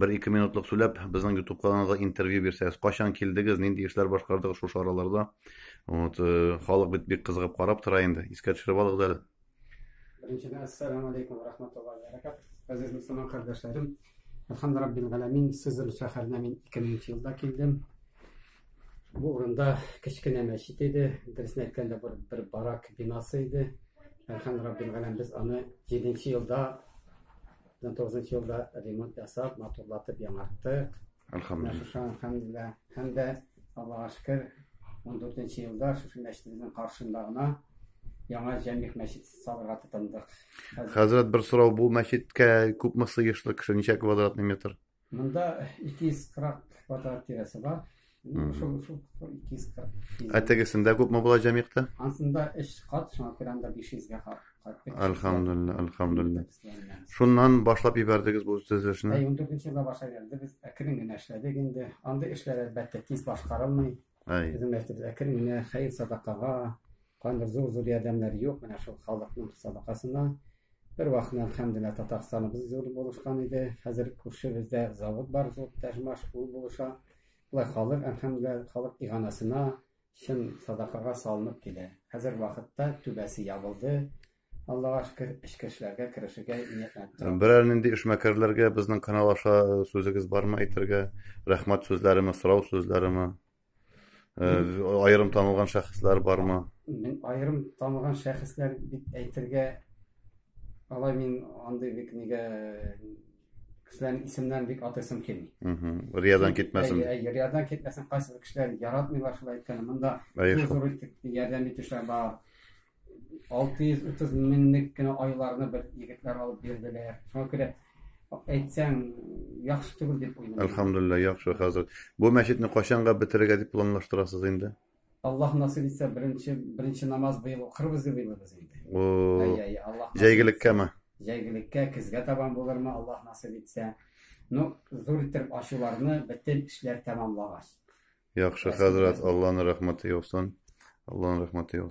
Бер-ике минутлык сүләп, безнең YouTube каналга интервью бирсәгез, качан килдегез, нинди эшләр башкардыгыз шушы араларда? Вот, э, халык бит бик кызыгып карап тора инде. Искә төшереп алыгыз әле. Беренчедән, ассаламу алейкум ва рахматуллаһи ва баракат. Газиз мусламан кардәшләрем, Алхамду раббил галәмин, Сызыр шәһәренә мин 2000 елда килдем. Бу урында кечкенә мәчет иде, дөресен әйткәндә бер, бер барак бинасы иде. Алхамду раббил галәмин, без аны 7 елда 2009 елда ремонт ясап, матурлатып яңарттык. Әлхәмдулилла. Әлхәмдулилла. Һәм дә Аллага шөкер, 14 елда шушы мәчетебезнең каршында гына яңа җәмигъ мәчет салырга тотындык. Хәзрәт, бер сорау, бу мәчеткә күпме сыешлы кеше, ничә квадратный метр? Монда 240 квадрат тирәсе бар. Шул шул 240. Ә тегесендә күпме була җәмигътә? Ансында 3 кат, шуңа күрә анда 500 га хак. Әлхәмдулилла, әлхәмдулилла. Шуннан башлап ибәрдегез бу төзелешне? Ә 14 нче елда башлап ибәрдек. Без әкрен генә эшләдек инде. Андый эшләр әлбәттә тиз башкарылмый. Әй. Безнең мәчетебез әкрен генә хәер садакага, кайбер зур-зур ярдәмнәр юк, менә шул халыкның садакасына. Бер вакытны, әлхәмдүлилләһ, Татарстаныбыз зур булышкан иде. Хәзер күршебездә завод бар, зур Тәҗмаш, ул булыша. Болай халык, әлхәмдүлилләһ, халык иганасына, чын садакага салынып килә. Хәзер вакытта түбәсе ябылды, Аллага шөкер, эшкә эшләргә, керешергә ниятләнеп торам. Берәр нинди эшмәкәрләргә безнең канал аша э, сүзегез бармы әйтергә? Рәхмәт сүзләреме, сорау сүзләреме? Э, аерым танылган шәхесләр бармы? Мин аерым танылган шәхесләр дип әйтергә алай мин андый бик нигә кешеләрнең исемнәрен бик атыйсым килми. Риядан китмәсен. Риядан китмәсен, кайсы кешеләр яратмыйлар шулай әйткәнне. Монда зур итеп ярдәм итүчеләр бар. 630 меңлек кенә айларны бер егетләр алып бирделәр. Шуңа күрә әйтсәң яхшы түгел дип уйлыйм. Әлхәмдулилла, яхшы хәзрәт. Бу мәчетне кайчанга бетерергә дип планлаштырасыз инде? Аллаһ насыйп итсә, беренче беренче намаз быел укырбыз дип уйлыйбыз инде. Ай-ай, Аллаһ. Җәйгелеккәме? Җәйгелеккә, көзгә табан булырмы, Аллаһ насыйп итсә. Ну, зур итеп ачуларны бөтен эшләр тәмамлагач. Яхшы хәзрәт, Аллаһның рәхмәте яусын. Аллаһның рәхмәте яусын.